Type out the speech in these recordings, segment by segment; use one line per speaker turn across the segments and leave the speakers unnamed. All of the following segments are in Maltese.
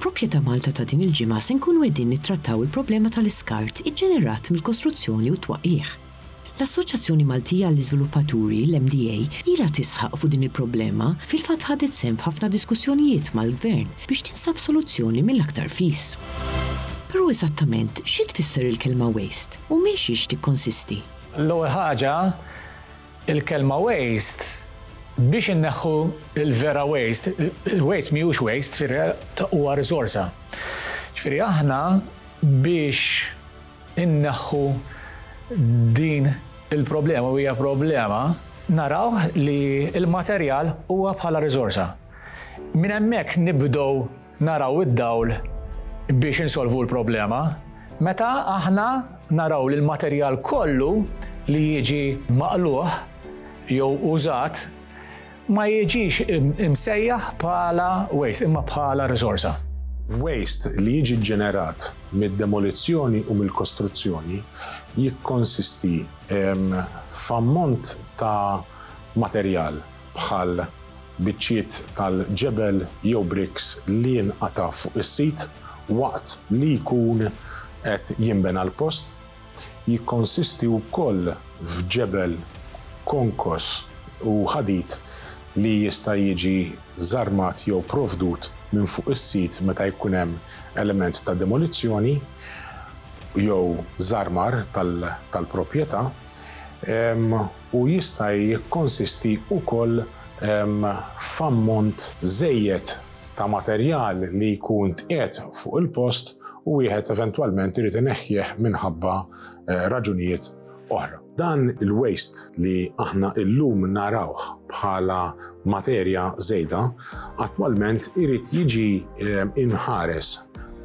Proprjetà Malta ta' din il-ġimgħa se nkunu qegħdin nittrattaw il-problema tal-iskart iġġenerat mill-kostruzzjoni u t-twaqqigħ. L-Assoċjazzjoni Maltija għall-Iżviluppaturi, l-MDA, ilha tisħaq fuq din il-problema, fil-fatt ħadet sehem f'ħafna diskussjonijiet mal-Gvern biex tinsab soluzzjoni mill-aktar fis. Però eżattament xi tfisser il-kelma waste u minn xiex tikkonsisti? L-ewwel ħaġa,
Il-kelma waste biex inneħħu l-vera waste, il-waste mhijiex waste, ġifieri huwa risorsa. Ġifieri aħna biex inneħħu din il-problema u hija problema, naraw li l-materjal huwa bħala risorsa. Minn hemmhekk nibdew naraw id-dawl biex insolvu l-problema, meta aħna naraw li l-materjal kollu li jiġi maqlugħ jew użat ma jiġix imsejjaħ bħala waste imma bħala riżorsa. Waste
li jiġi ġġenerat mid-demolizzjoni u mill-kostruzzjoni jikkonsisti f'ammont ta' materjal bħal biċċiet tal-ġebel jew bricks li nqatgħu fuq is-sit waqt li jkun qed jinbena l-post, jikkonsisti wkoll f'ġebel konkos u ħadid li jista' jiġi żarmat jew provdut minn fuq is-sit meta jkun hemm element ta' demolizzjoni jew żarmar tal-proprjetà. u jista' jikkonsisti wkoll f'ammont żejjed ta' materjal li jkun tqiegħed fuq il-post u wieħed eventwalment irid ineħħieh minħabba raġunijiet oħra. Dan il-waste li aħna illum narawh bħala materja żejda, attwalment irid jiġi mħares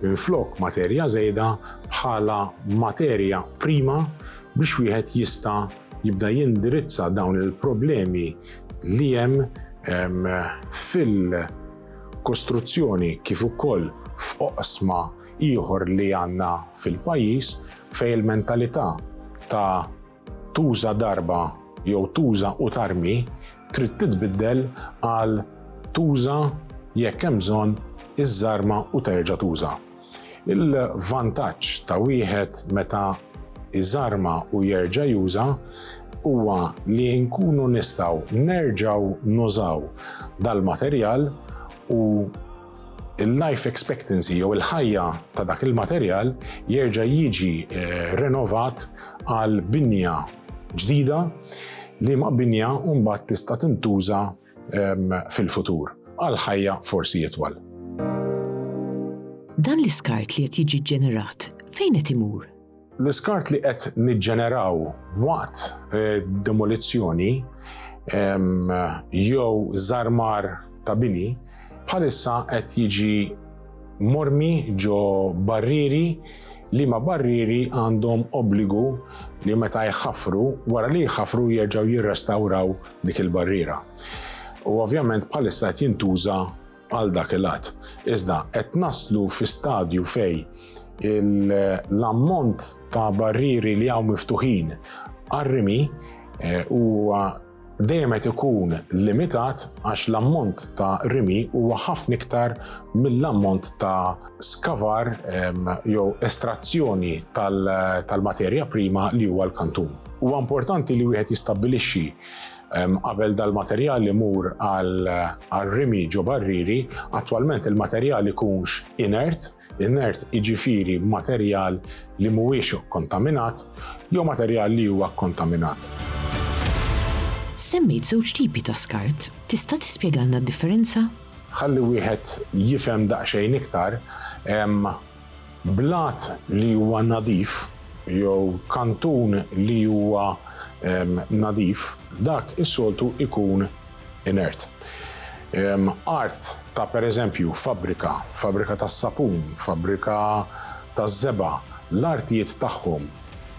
minflok materja żejda bħala materja prima biex wieħed jista' jibda jindirizza dawn il-problemi li hemm fil-kostruzzjoni kif ukoll f'oqsma ieħor li għandna fil-pajjiż fejn il-mentalità ta' tuża darba jew tuża u tarmi trid titbiddel għal tuża jekk hemm bżonn iżżarma u terġa' tuża. Il-vantaġġ ta' wieħed meta iżarma u jerġa' juża huwa li nkunu nistgħu nerġgħu nużaw dal-materjal u il-life expectancy jew il-ħajja ta' dak il-materjal jerġa' jiġi eh, renovat għal binja ġdida li ma' binja mbagħad tista' tintuża fil-futur għal ħajja forsi itwal.
Dan l-iskart li qed jiġi ġenerat fejn qed imur? L-iskart li
qed niġġeneraw waqt eh, demolizzjoni jew żarmar ta' bini bħalissa qed jiġi mormi ġo barrieri li ma barrieri għandhom obbligu li meta jħafru wara li jħafru jerġgħu jirrestawraw dik il-barriera. U ovvjament bħalissa qed jintuża għal dak il-għad. Iżda qed naslu fi stadju fej l-ammont ta' barrieri li hawn miftuħin għarrimi eh, huwa dejjem qed ikun limitat għax l-ammont ta' rimi huwa ħafna iktar mill-ammont ta' skavar jew estrazzjoni tal-materja prima li huwa l-kantun. Huwa importanti li wieħed jistabbilixxi qabel dal-materjal imur għal rimi ġo barriri, attwalment il-materjal ikunx inert, inert iġifiri materjal li mhuwiex kontaminat jew materjal li huwa kontaminat.
Semmejt żewġ tipi ta' skart, tista' tispjegalna d-differenza? Ħalli wieħed
jifhem daqsxejn iktar, hemm blat li huwa nadif jew kantun li huwa nadif, dak is-soltu jkun inert. Art ta' pereżempju fabbrika, fabbrika tas-sapun, fabbrika taż-żebgħa, l-artijiet tagħhom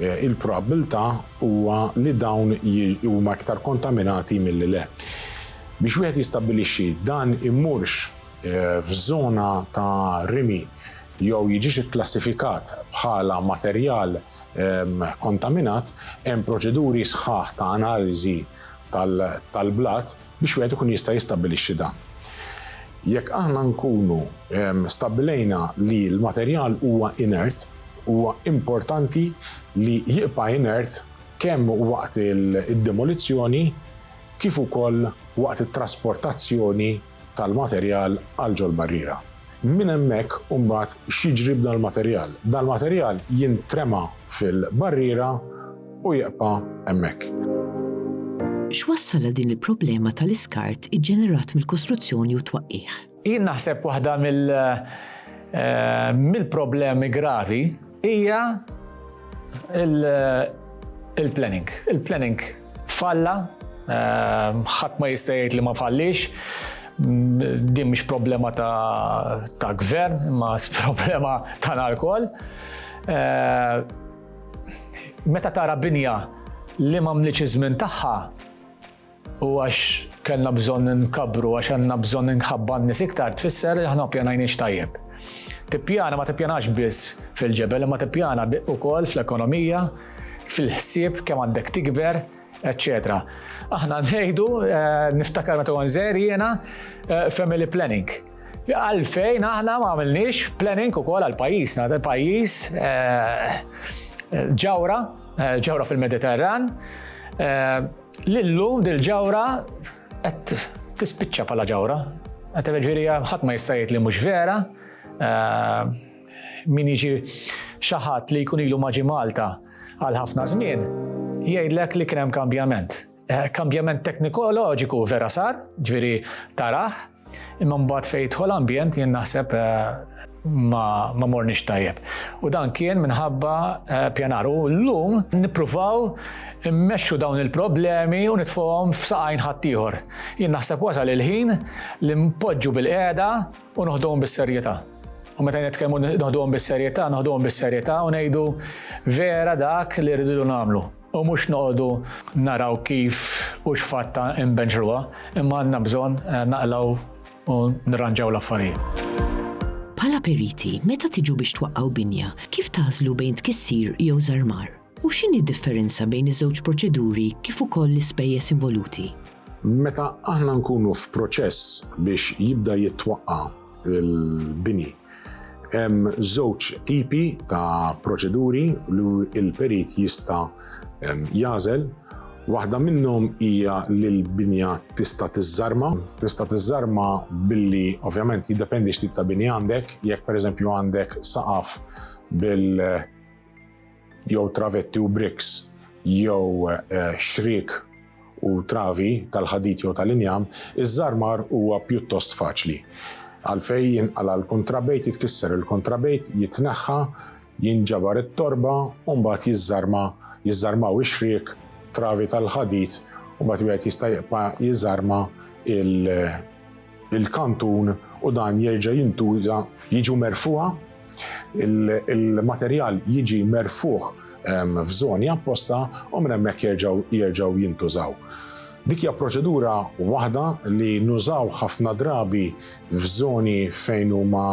il-probabbiltà huwa li dawn huma iktar kontaminati milli le. Biex wieħed jistabbilixxi dan immurx f'żona ta' rimi jew jiġix ikklassifikat bħala materjal kontaminat, hemm proċeduri sħaħ ta' analiżi tal-blat biex wieħed ikun jista' jistabbilixxi dan. Jekk aħna nkunu stabbilejna li l-materjal huwa inert, huwa importanti li jibqa' inert kemm waqt id-demolizzjoni kif ukoll waqt it-trasportazzjoni tal-materjal għal ġol-barriera. Minn hemmhekk imbagħad x'jiġri b'dan il-materjal? Dan il-materjal jintrema fil-barriera u jibqa' hemmhekk.
X'wassal għal din il-problema tal-iskart iġġenerat mill-kostruzzjoni u t-twaqqigħ? Jien naħseb waħda
mill mill-problemi gravi hija il-planning. Il-planning falla, ħadd ma jista' jgħid li ma falliex, din mhix problema ta' gvern, imma problema tagħna lkoll. Meta tara binja li m'għamlitx iż-żmien tagħha, u għax kellna bżonn inkabbru, għax għandna bżonn inħabba n-nies iktar, tfisser li aħna pjanajniex tajjeb. Tippjana ma tippjanax biss fil-ġebel, imma tippjana ukoll fl-ekonomija, fil-ħsieb kemm għandek tikber, etc. Aħna ngħidu, eh, niftakar meta għanżer jiena eh, family planning. Għalfejn aħna ma għamilniex planning ukoll għal pajjiżna, pajjiż eh, ġawra, ġawra fil-Mediterran, Li llum dil-ġawra qed tispiċċa bħala ġawra. Qed ġifieri ħadd ma jista' jgħid li mhux vera. Eh, min jiġi xi ħadd li jkun ilu maġi Malta għal ħafna żmien, jgħidlek li kien hemm kambjament. Eh, kambjament teknikoloġiku vera sar, ġifieri taraħ, Imma mbagħad fejn jidħol ambjent jien naħseb ma, ma morniex tajjeb. U dan kien minħabba pjanar. U llum nippruvaw immexxu dawn il-problemi u nitfuhom f'saqajn ħaddieħor. Jien naħseb wasal il-ħin li npoġġu bil-qiegħda u noħduhom bis-serjetà. U meta nitkellmu noħduhom bis-serjetà, noħduhom bis-serjetà u ngħidu vera dak li rridu nagħmlu. U mhux noqogħdu naraw kif u x'fatt inbenġruha, imma għandna bżonn naqlgħu u nirranġaw l-affarijiet. Bħala
periti, meta tiġu biex twaqqgħu binja, kif tagħżlu bejn tkissir jew żarmar? U x'inhi d-differenza bejn iż-żewġ proċeduri kif ukoll l-ispejjeż involuti? Meta
aħna nkunu f'proċess biex jibda jitwaqqa' l-bini, Hemm żewġ tipi ta' proċeduri li l-perit jista' jażel Waħda minnhom hija li l-binja tista' tiżżarma. Tista' tiżżarma billi ovvjament jiddependi x'tip ta' bini għandek, jekk pereżempju għandek saqaf bil jew travetti u briks jew xriek u travi tal-ħadid jew tal-injam, iż-żarmar huwa pjuttost faċli. Għalfejn jinqala' l-kuntrabejt, jitkisser il-kuntrabejt, jitneħħa, jinġabar it-torba u mbagħad jiżżarma, jiżżarmaw ix-xriek, travi tal-ħadid u mbagħad wieħed jista' jibqa' jiżarma il il-kantun u dan jerġa' jintuża. Jiġu merfugħa, il-materjal jiġi merfugħ f'żoni apposta u minn hemmhekk jerġgħu jerġgħu jintużaw. Dik hija proċedura waħda li nużaw ħafna drabi f'żoni fejn huma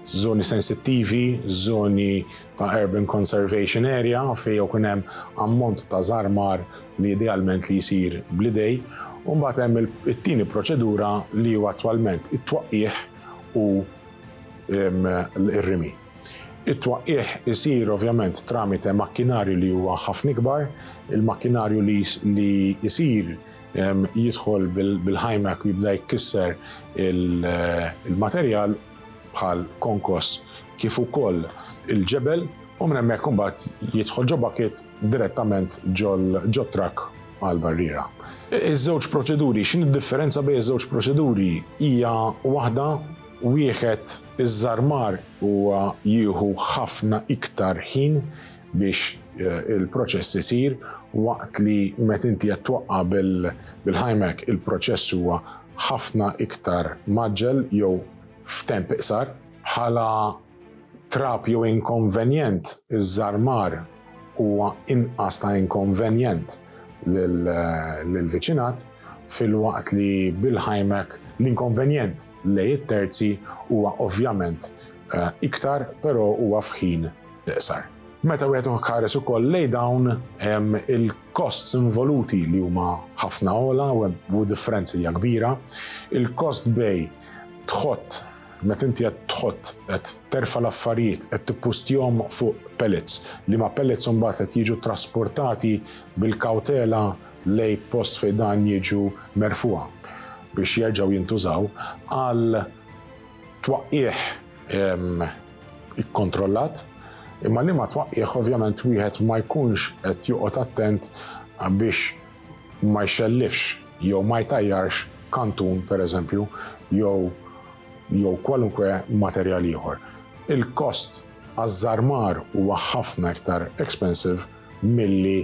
żoni sensittivi, żoni ta' urban conservation area fejn jew kien hemm ammont ta' żarmar li idealment li jsir bl-idej, u mbagħad hemm it-tieni proċedura li huwa attwalment it-twaqqigħ u r-rimi. It-twaqqigħ isir ovvjament tramite makkinarju li huwa ħafna ikbar, il-makkinarju li li jsir jidħol bil-ħajmak u jibda jkisser il-materjal bħal konkos kif ukoll il-ġebel u minn hemmhekk imbagħad jidħol ġo bucket direttament ġo trakk għal barriera. Iż-żewġ proċeduri, x'inhi d-differenza bejn iż-żewġ proċeduri? Hija waħda wieħed iż-żarmar huwa jieħu ħafna iktar ħin biex il-proċess isir waqt li met inti qed twaqqa' bil-himack il-proċess huwa ħafna iktar mgħaġġel jew f'temp iqsar. Bħala trab jew inkonvenjent, iż-żarmar huwa inqas ta' inkonvenjent lill-viċinat filwaqt li bil-himack l-inkonvenjent lejn it-terzi huwa ovvjament iktar, però huwa f'ħin iqsar. Meta wieħed uħ kares ukoll lej dawn il-kosts involuti li huma ħafna ola u differenzi hija kbira, il-kost bej tħott meta inti qed tħott qed terfa' l-affarijiet qed tippustjhom fuq pellets li ma' pellets imbagħad qed jiġu trasportati bil-kawtela lej post fejn dan jiġu merfugħa biex jerġgħu jintużaw għal twaqqigħ ikkontrollat, imma liema twaqqigħ ovvjament wieħed ma jkunx qed joqgħod attent biex ma jxellifx jew ma jtajjarx kantun pereżempju jew jew kwalunkwe materjal ieħor. Il-kost għaż-żarmar huwa ħafna iktar expensive milli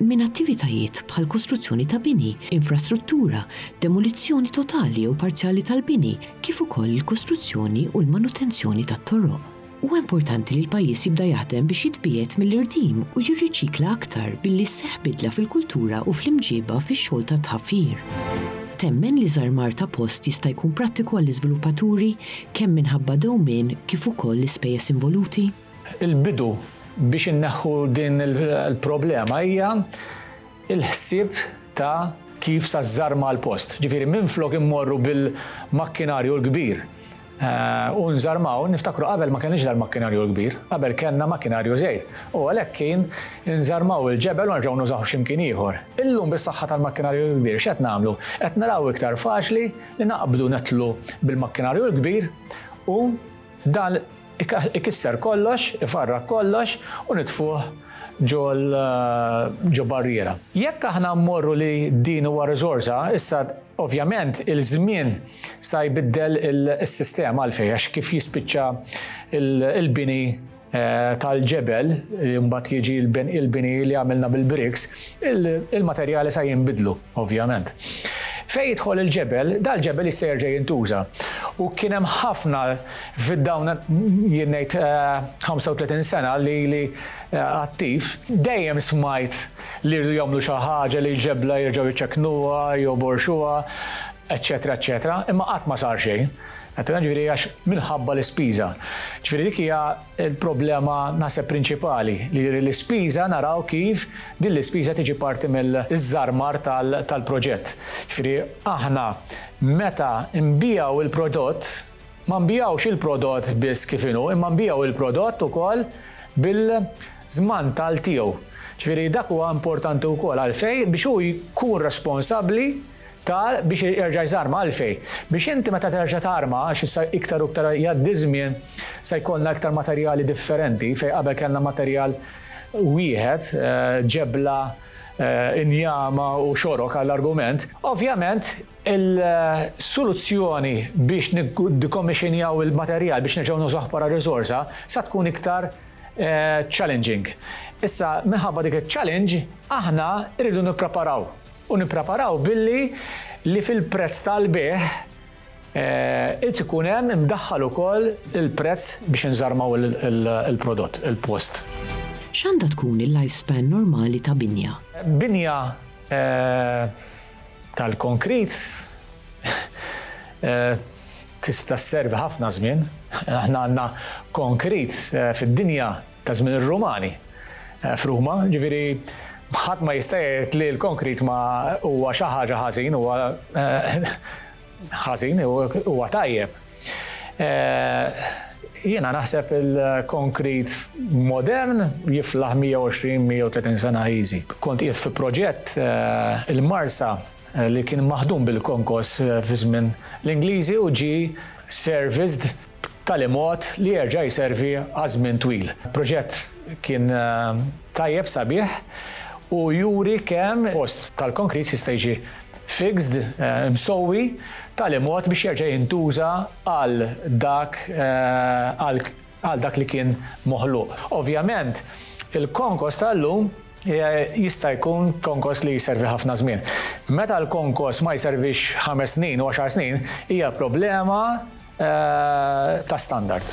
minn attivitajiet bħal kostruzzjoni ta' bini, infrastruttura, demolizzjoni totali jew parzjali tal-bini, kif ukoll il-kostruzzjoni u l-manutenzjoni tat-toroq. Huwa importanti li l-pajjiż jibda jaħdem biex jitbiegħed mill-irdiem u jirriċikla aktar billi sseħħ bidla fil-kultura u fl-imġiba fix-xogħol tat-tħaffir. Temmen li żarmar ta' post jista' jkun prattiku għall-iżviluppaturi kemm minħabba dewmien kif ukoll l-ispejjeż involuti? Il-bidu
biex inneħħu din il-problema hija l-ħsieb ta' kif sa żżarma l-post. Ġifieri minflok immorru bil-makkinarju l-kbir u nżarmaw, niftakru qabel ma kellniex dal-makkinarju l-kbir, qabel kellna makkinarju żgħir u għalhekk kien inżarmaw il-ġebel u nerġgħu nużawh xi mkien ieħor. Illum bis-saħħa tal-makkinarju l-kbir x'qed nagħmlu? Qed naraw iktar faċli li naqbdu nitlu bil-makkinarju l-kbir u dan ikisser kollox, ifarrak kollox u nitfuh ġo barriera. Jekk aħna mmorru li din huwa riżorsa, issa ovvjament il-żmien sa jbiddel is-sistema għalfejn għax kif jispiċċa l-bini tal-ġebel li mbagħad jiġi l-bini li għamilna bil-bricks, il-materjali sa jinbidlu ovvjament. Fejn jidħol il-ġebel, dal-ġebel jista' jerġa' jintuża u kien hemm ħafna Fid-dawn, jien ngħid, 35 sena li ili attiv, dejjem smajt li jridu jagħmlu xi ħaġa li l-ġebla jerġgħu jċekknuha, joborxuha, eċċetera eċċetera, imma qatt ma sar xejn. Għedtilna ġifieri għax minħabba l-ispiża. Ġifieri dik hija l-problema naħseb prinċipali, li l-ispiża naraw kif din l-ispiża tiġi parti mill-żarmar tal-proġett. Ġifieri aħna meta nbigħu l-prodott, Ma nbigħux il-prodott biss kif inhu, imma nbigħu il-prodott ukoll bil-żmantal tiegħu. Ġifieri dak huwa importanti wkoll għalfejn biex hu jkun responsabbli ta' biex jerġa' jżarma. Għalfejn? Biex inti meta terġa' tarma, għax issa iktar u iktar jgħaddi ż-żmien se jkollna iktar materjali differenti, fejn qabel kellna materjal wieħed, ġebla, injama u xorok għall-argument, ovvjament Il-soluzzjoni biex niddikomixinjaw il-materjal biex nerġgħu nużawh bħala riżorsa sa tkun iktar challenging. Issa, minħabba dik iċ-challenge, aħna rridu nippreparaw u nippreparaw billi li fil-prezz tal-bejgħ irid ikun hemm imdaħħal ukoll il-prezz biex inżarmaw il-prodott, il-post. X'għandha
tkun il-lifespan normali ta' binja? Binja
tal-konkrit tista' sservi ħafna żmien. Aħna għandna konkrit fid-dinja ta' żmien ir-Rumani f'Ruma, ġifieri ħadd ma jista' jgħid li l-konkrit ma huwa xi ħaġa ħażin, huwa ħażin u huwa tajjeb. Jiena naħseb il-konkrit modern jiflaħ 120-130 sena easy. Kont qiegħed fi proġett eh, il-Marsa eh, li kien maħdum bil-konkos eh, fi żmien l-Ingliżi u ġi serviced b'tali mod li jerġa' jservi għal żmien twil. Proġett kien tajjeb, sabiħ u juri kemm post tal-konkrit jista' jiġi fixed, imsewwi, b'tali mod biex jerġa' jintuża għal dak għal dak li kien moħluq. Ovvjament, il-konkos tal-lum jista' jkun konkos li jservi ħafna żmien. Meta l-konkos ma jservix ħames snin u għaxar snin, hija problema ta' standard.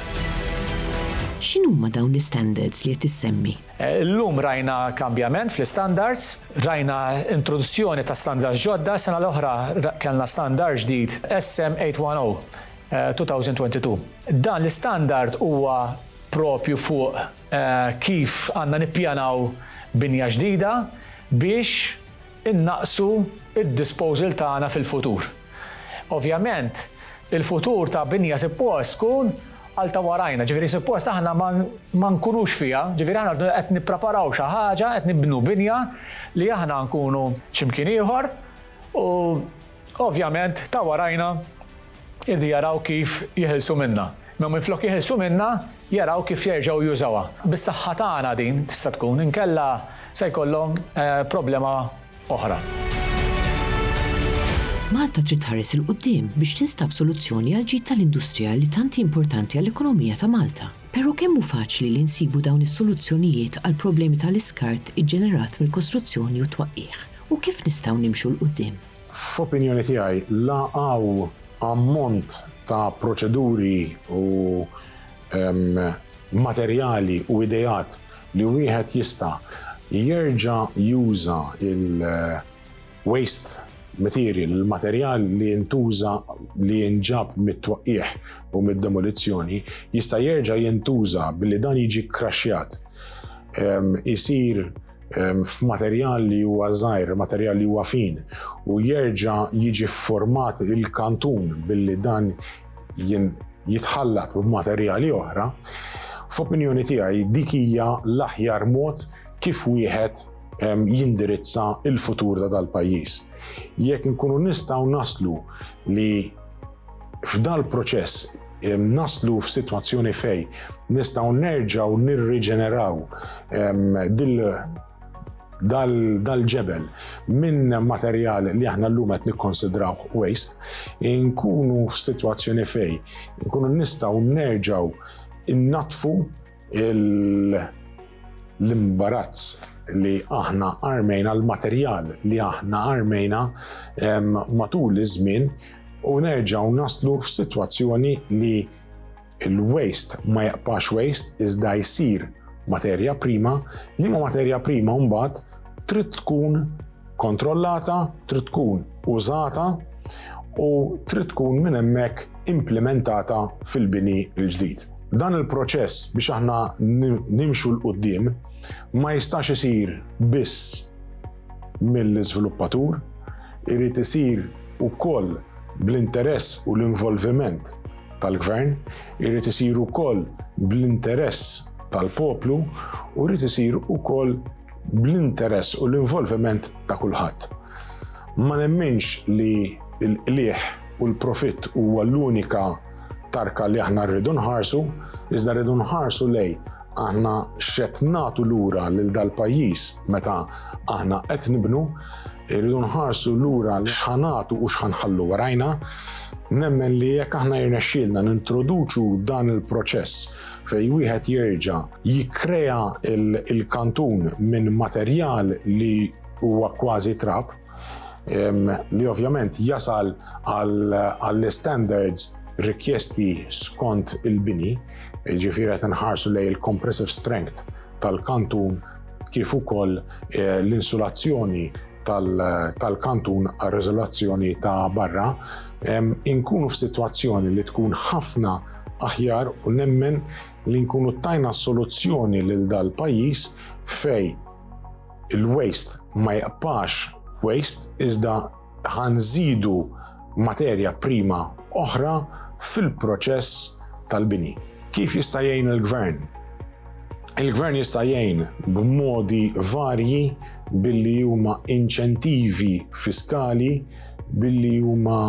X'inhuma dawn l-istandards li qed issemmi? Illum rajna
kambjament fl-istandards, rajna introduzzjoni ta' standards ġodda, sena l-oħra kellna standard ġdid SM 810/2022. Dan l-istandard huwa proprju fuq kif għandna nippjanaw binja ġdida biex innaqqsu d-disposal tagħna fil-futur. Ovvjament, il-futur ta' Binja suppost tkun għal ta' warajna, ġifieri suppost aħna ma nkunux fiha, ġifieri aħna rridu qed nippreparaw xi ħaġa, qed nibnu binja li aħna nkunu x'imkien ieħor u Ovvjament, ta' warajna irdu jaraw kif jeħilsu minnha. Imma minflok jeħilsu minnha, jaraw kif jerġgħu jużawha. Bis-saħħa tagħna din tista' tkun, inkella se jkollhom problema oħra.
Malta trid tħares 'il quddiem biex tinstab soluzzjoni għall-ġid tal-industrija li tant hi importanti għall-ekonomija ta' Malta. Però kemm hu faċli li nsibu dawn is-soluzzjonijiet għall-problemi tal-iskart iġġenerat mill-kostruzzjoni u t-twaqqigħ? U kif nistgħu nimxu 'l quddiem? F'opinjoni
tiegħi, la hawn ammont ta' proċeduri u materjali u ideat li wieħed jista' jerġa' juża l-waste material, il-materjal li ntuża li jinġab mit-twaqqigħ u mid-demolizzjoni, jista' jerġa' jintuża billi dan jiġi kkraxxjat, isir f'materjal li huwa żgħir, materjal li huwa fin u jerġa' jiġi format il-kantun billi dan jitħallat b'materjali oħra, f'opinjoni tiegħi dik hija l-aħjar mod kif wieħed jindirizza il-futur ta' dal-pajjiż. Jekk nkunu nistgħu naslu li f'dal-proċess naslu f'sitwazzjoni fejn nistgħu nerġgħu nirriġeneraw dil dal-ġebel minn materjal li aħna llum qed nikkonsidrawh waste, nkunu f'sitwazzjoni fejn nkunu nistgħu nerġgħu innatfu l-imbarazz li aħna armejna, l-materjal li aħna armejna matul iż-żmien u nerġaw naslu f'sitwazzjoni li l-waste ma jaqpax waste iżda jsir materja prima, li ma materja prima mbagħad trid tkun kontrollata, trid tkun użata u trid tkun minn hemmhekk implementata fil-bini l-ġdid. Dan il-proċess biex aħna nimxu l-qoddim ma jistax isir biss mill-iżviluppatur, irid isir ukoll bl-interess u l-involviment tal-gvern, irid isir ukoll bl-interess tal-poplu u rrid isir ukoll bl-interess u l-involviment ta' kulħadd. Ma nemminx li l-qliħ u l-profitt huwa l-unika tarka li aħna rridu nħarsu, iżda rridu nħarsu lej aħna xed natu lura lil dal-pajjiż meta aħna qed nibnu, rridu nħarsu lura li xħanatu u xħanħallu warajna, nemmen li jekk aħna jirnexxielna nintroduċu dan il-proċess fejn wieħed jerġa' jikkrea il-kantun minn materjal li huwa kważi trab, li ovvjament jasal għall-standards rikjesti skont il-bini, ġifieri qed inħarsu lejn il-compressive strength tal-kantun kif ukoll l-insulazzjoni tal-kantun għar-riżolazzjoni ta' barra, inkunu f'sitwazzjoni li tkun ħafna aħjar u nemmen li nkunu tajna soluzzjoni lil dal-pajjiż fej il-waste ma jaqpax waste iżda ħanżidu materja prima oħra fil-proċess tal-bini. Kif jista' jgħin il-gvern? Il-gvern jista' jgħin b'modi varji billi huma inċentivi fiskali, billi huma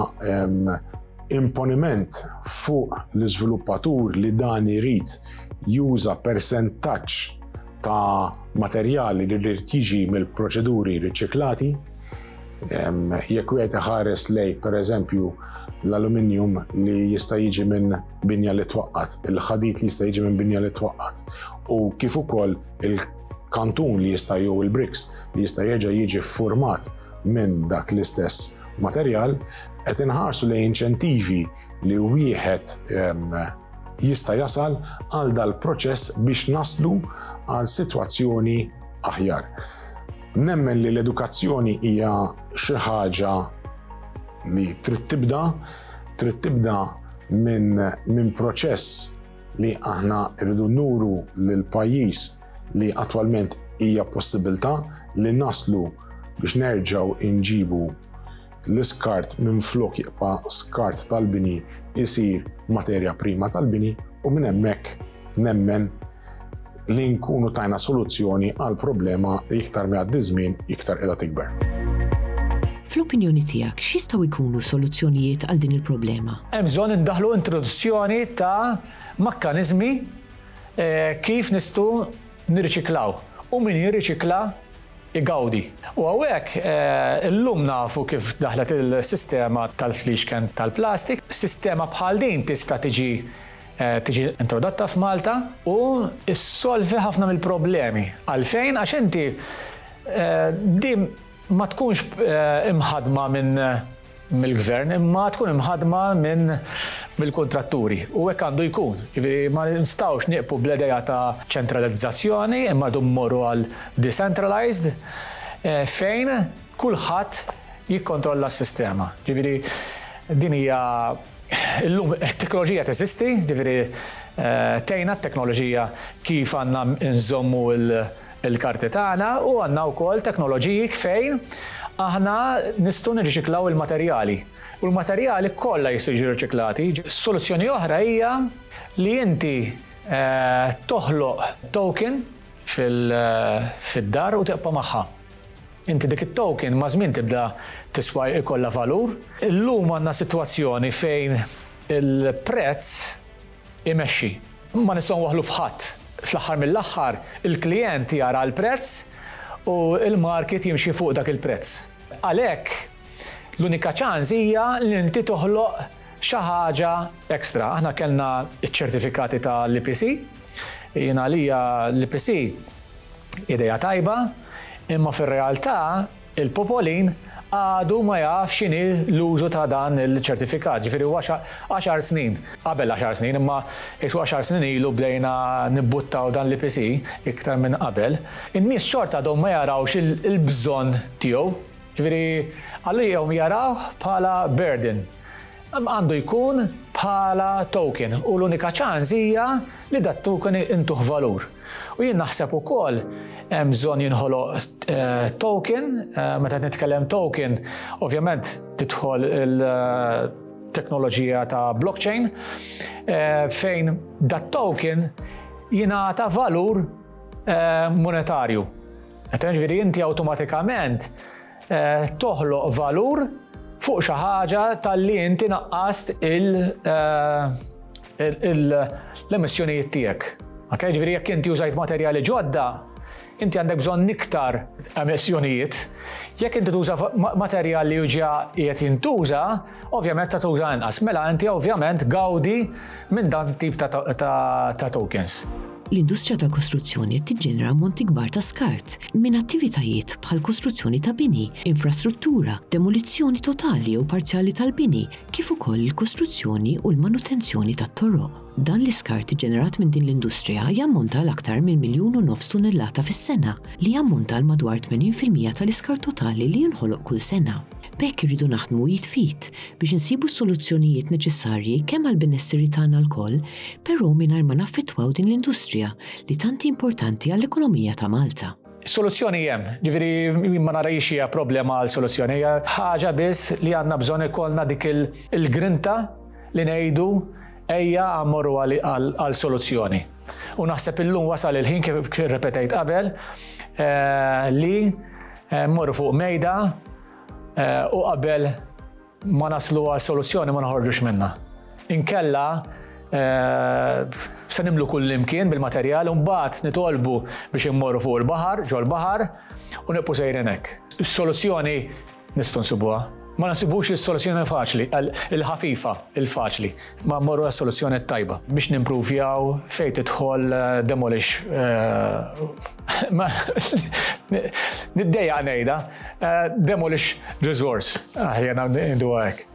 Imponiment fuq l-iżviluppatur li dan irid juża persentaġġ ta' materjali li rrid jiġi mill-proċeduri riċiklati. Jekk wieħed iħares lej, pereżempju, l-aluminium li jista' jiġi minn binja li twaqqat, il-ħadid li jista' jiġi minn binja li twaqqat, u kif ukoll il-kantun li jista' jew il-briks li jista' jerġa' jiġi ffurmat minn dak l-istess materjal, qed inħarsu lejn inċentivi li wieħed jista' jasal għal dal-proċess biex naslu għal sitwazzjoni aħjar. Nemmen li l-edukazzjoni hija xi ħaġa li trid tibda, trid tibda minn min proċess li aħna rridu nuru lill pajjiż li attwalment hija possibilità li naslu biex nerġgħu inġibu l-iskart minn flok jibqa' skart tal-bini isir materja prima tal-bini u minn hemmhekk nemmen li nkunu tajna soluzzjoni għal problema li iktar mi għaddi żmien iktar qiegħda tikber.
Fl-opinjoni tiegħek x'jistgħu jkunu soluzzjonijiet għal din il-problema? Hemm bżonn indaħlu
introduzzjoni ta' makkaniżmi Kif nistgħu nirriċiklaw u min jirriċikla jgawdi. U hawnhekk illum nafu kif daħlet is-sistema tal-fliexken tal-plastik. Sistema bħal din tista' tiġi tiġi introdotta f'Malta u ssolvi ħafna mill-problemi. Għalfejn? Għax inti din ma tkunx imħaddma minn mill-Gvern imma tkun imħaddma minn mill-kuntratturi u hekk għandu jkun. Jiġifieri ma nistgħux nieqfu bl-idea ta' ċentralizzazzjoni imma rdu mmorru għal decentralized fejn kulħadd jikkontrolla s-sistema. Jiġifieri din hija illum it-teknoloġija teżisti, jiġifieri tgħinna t-teknoloġija kif għandna nżommu l- il-karti tagħna u għandna wkoll teknoloġiji fejn aħna nistgħu nirriċiklaw il-materjali u l-materjali kollha jistgħu jiġu riċiklati. Soluzzjoni oħra hija li inti toħloq token fid-dar u tiqpa' magħha. Inti dik it-token maż-żmien tibda tiswa jkollha valur. Illum għandna sitwazzjoni fejn il-prezz imexxi. Ma nistgħu nwaħħlu f'ħadd. Fl-aħħar mill-aħħar, il-klijent jara l-prezz u l-market jimxi fuq dak il-prezz. Għalhekk, l-unika ċans hija li inti toħloq xi ħaġa extra. Aħna kellna ċ-ċertifikati ta' l-EPC. Jien għalija l-EPC idea tajba, imma fir-realtà Il-popolin għadu ma jaf x'inhi l-użu ta' dan il-ċertifikat, ġifieri huwa għaxar snin, qabel għaxar snin, imma qisu għaxar snin ilu bdejna nibbuttaw dan l-EPC, iktar minn qabel, in-nies xorta għadhom ma jarawx il-bżonn tiegħu, ġifieri għalihom jarawh bħala burden. Għandu jkun bħala token u l-unika ċans hija li dat-token intuh valur. U jien naħseb ukoll hemm bżonn jinħoloq token, meta qed nitkellem token ovvjament tidħol il teknoloġija ta' blockchain, fejn dat-token jingħata valur monetarju. Jiġifieri inti awtomatikament toħloq valur fuq xi ħaġa talli inti naqqast l-emissjonijiet tiegħek. Ok, ġifieri jekk inti użajt materjali ġodda, inti għandek bżonn iktar emissjonijiet. Jekk inti tuża materjal li ġa qiegħed jintuża, Ovvjament ta' tuża inqas, mela inti ovvjament gawdi minn dan tip ta' tokens. L-industrija
tal-kostruzzjoni qed tiġġenera ammonti kbar ta' skart minn attivitajiet bħal kostruzzjoni ta' bini, infrastruttura, demolizzjoni totali jew parzjali tal-bini, kif ukoll il-kostruzzjoni u l-manutenzjoni tat-toroq. Dan l-iskart iġġenerat minn din l-industrija jammonta għal aktar minn miljun u nofs tunellata fis-sena, li jammonta għal madwar 80 fil-mija tal-iskart totali li jinħoloq kull sena. B'hekk irridu naħdmu id f'id biex insibu s-soluzzjonijiet neċessarji kemm għall-benesseri tagħna lkoll, però mingħajr ma naffettwaw din l-industrija li tant hi importanti għall-ekonomija ta' Malta. Soluzzjoni hemm,
ġifieri jien ma nara hi xi hija problema għal soluzzjoni, hija ħaġa biss li għandna bżonn ikollna dik il-grinta li ngħidu Ejja mmorru għal soluzzjoni. U naħseb illum wasal il-ħin kif repetajt qabel eh, li eh, mmorru fuq mejda eh, u qabel ma naslu għal soluzzjoni ma naħorġux minna. Inkella se nimlu kull imkien bil-materjal un bat nitolbu biex immorru fuq il-baħar, ġol-baħar u nibqu sejrenek. Soluzzjoni Nistgħu nsibuha. Ma nsibux li s-soluzzjoni faċli, il-ħafifa, il-faċli. Ma mmorru għas-soluzzjoni t-tajba. Biex nimpruvjaw fejn tidħol eh, demolish. Eh, Niddejja ngħidha. Eh, demolish resource. Aħjar ngħidu hekk.